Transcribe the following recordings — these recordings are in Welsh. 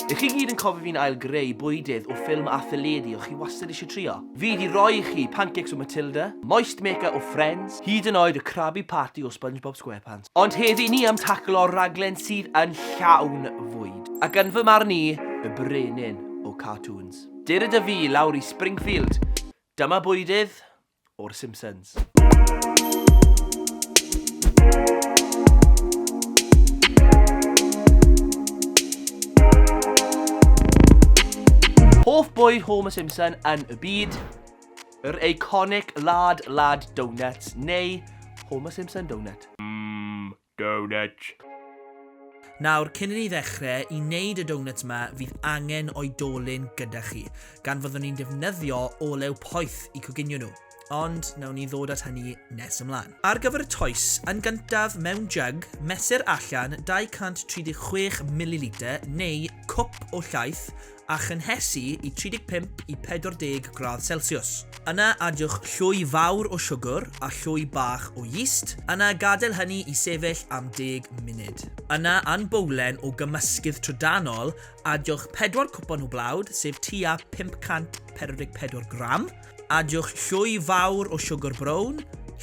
Ych chi gyd yn cofio fi'n ail greu bwydydd o ffilm a theledu o chi wastad eisiau trio? Fi di roi i chi pancakes o Matilda, moist maker o Friends, hyd yn oed y Krabby Patty o Spongebob Squarepants. Ond heddi ni am taclo raglen sydd yn llawn fwyd, ac yn fy marn i, y brenin o cartoons. Dere da fi lawr i Springfield. Dyma bwydydd o'r Simpsons. Hoff bwyd Homer Simpson yn y byd, yr iconic lad lad donuts neu Homer Simpson donut. Donuts. Nawr, cyn i ni ddechrau i wneud y donuts yma, fydd angen oedolyn gyda chi, gan fyddwn ni'n defnyddio olew poeth i coginio nhw, ond nawn ni ddod at hynny nes ymlaen. Ar gyfer y toes, yn gyntaf, mewn jug, mesur allan 236 mililitr neu cwp o llaeth a chynhesu i 35 i 40 gradd Celsius. Yna adiwch llwy fawr o siwgr a llwy bach o yeast, yna gadael hynny i sefyll am 10 munud. Yna yn bowlen o gymysgydd trydanol, adiwch 4 cwpan o blawd, sef tua 544 gram, Adiwch llwy fawr o siwgr brown,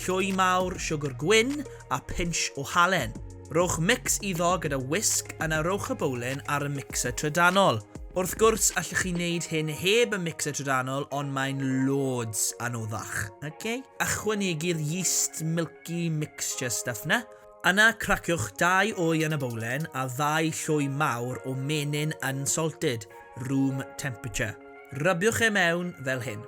llwy mawr siwgr gwyn a pinch o halen. Rhowch mix iddo gyda whisk yna rhowch y bowlen ar y mixer trydanol. Wrth gwrs allwch chi wneud hyn heb y mixer trydanol ond mae'n loads anoddach. Ok? Ychwanegu'r yeast milky mixture stuff 'na. Yna craciwch dau wy yn y bowlen a ddau llwy mawr o menyn unsalted, room temperature. Rybiwch e mewn fel hyn.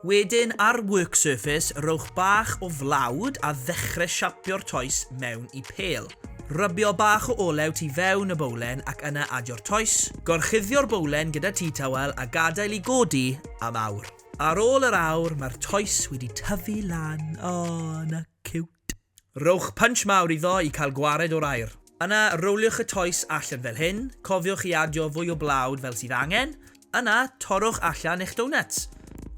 Wedyn ar work surface rhowch bach o flawd a ddechre siapio'r toes mewn i pêl. Rybio bach o olew tu fewn y bowlen ac yna adio'r toes. Gorchuddio'r bowlen gyda tea towel a gadael i godi am awr. Ar ôl yr awr mae'r toes wedi tyfu lan, aww 'na ciwt! Rhowch punch mawr iddo i cael gwared o'r aer. Yna rowliwch y toes allan fel hyn, cofiwch i adio fwy o blawd fel sydd angen, yna torrwch allan eich donuts.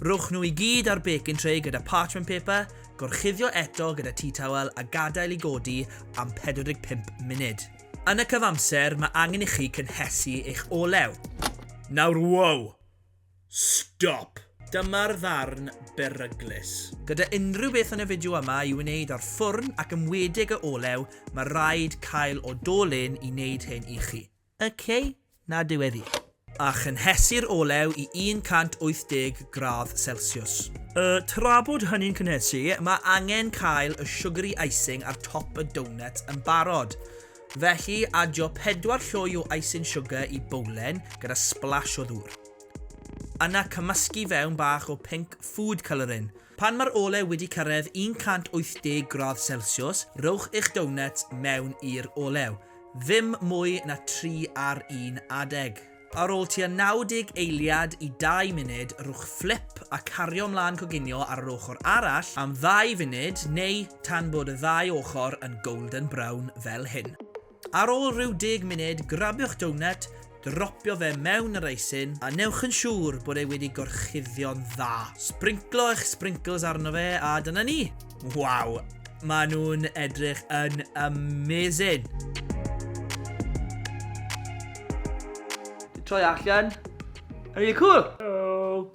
Rhowch nhw i gyd ar baking tray gyda parchment paper, gorchuddio eto gyda tea towel a gadael i godi am 45 munud. Yn y cyfamser mae angen i chi cynhesu eich olew. Nawr wow! Stop! Dyma'r ddarn beryglus. Gyda unrhyw beth yn y fideo yma i wneud â'r ffwrn ac ymwedig y olew, mae rhaid cael o do lyn i wneud hyn i chi. Ok, na diweddu. A chynhesu'r olew i 180 gradd celsiws. Y tra bod hynny'n cynhesu, mae angen cael y sugary icing ar top y doughnut yn barod. Felly, adio 4 llwy o icing sugar i bowlen gyda splash o ddŵr. Yna cymysgu fewn bach o pink food colouring. Pan mae'r olew wedi cyrraedd 180 gradd celsiws, rhowch eich doughnut mewn i'r olew, ddim mwy na 3 ar 1 adeg. Ar ôl tua 90 eiliad i dau munud, rhowch fflip a cario mlaen coginio ar yr ochr arall am ddau funud neu tan bod y ddau ochr yn golden brown fel hyn. Ar ôl rhyw deg munud, grabiwch doughnut, dropio fe mewn yr eisin a newch yn siŵr bod e wedi gorchuddio'n dda. Sbrinclo eich sprinkles arno fe a dyna ni! Waw, maen nhw'n edrych yn amazing! Troi allan. Yn really cool! Oh.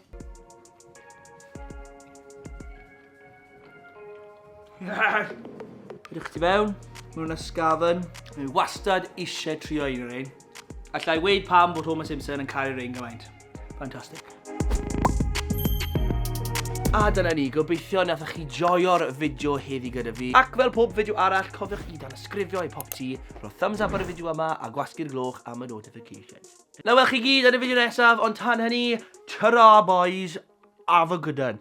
Yes! Rydych chi mewn, maen nhw'n ysgafn. Mae wastad eisiau trio un o'r ein. Alla i weid pam bod Homer Simpson yn cael ei rein gymaint. Fantastic. A dyna ni, gobeithio nathoch chi joio'r fideo heddi gyda fi. Ac fel pob fideo arall, cofiwch i dan ysgrifio i pop ti, rho thumbs up ar y fideo yma a gwasgu'r gloch am y notifications. Na wel chi gyd yn y fideo nesaf, ond tan hynny, ta boys, have a good one.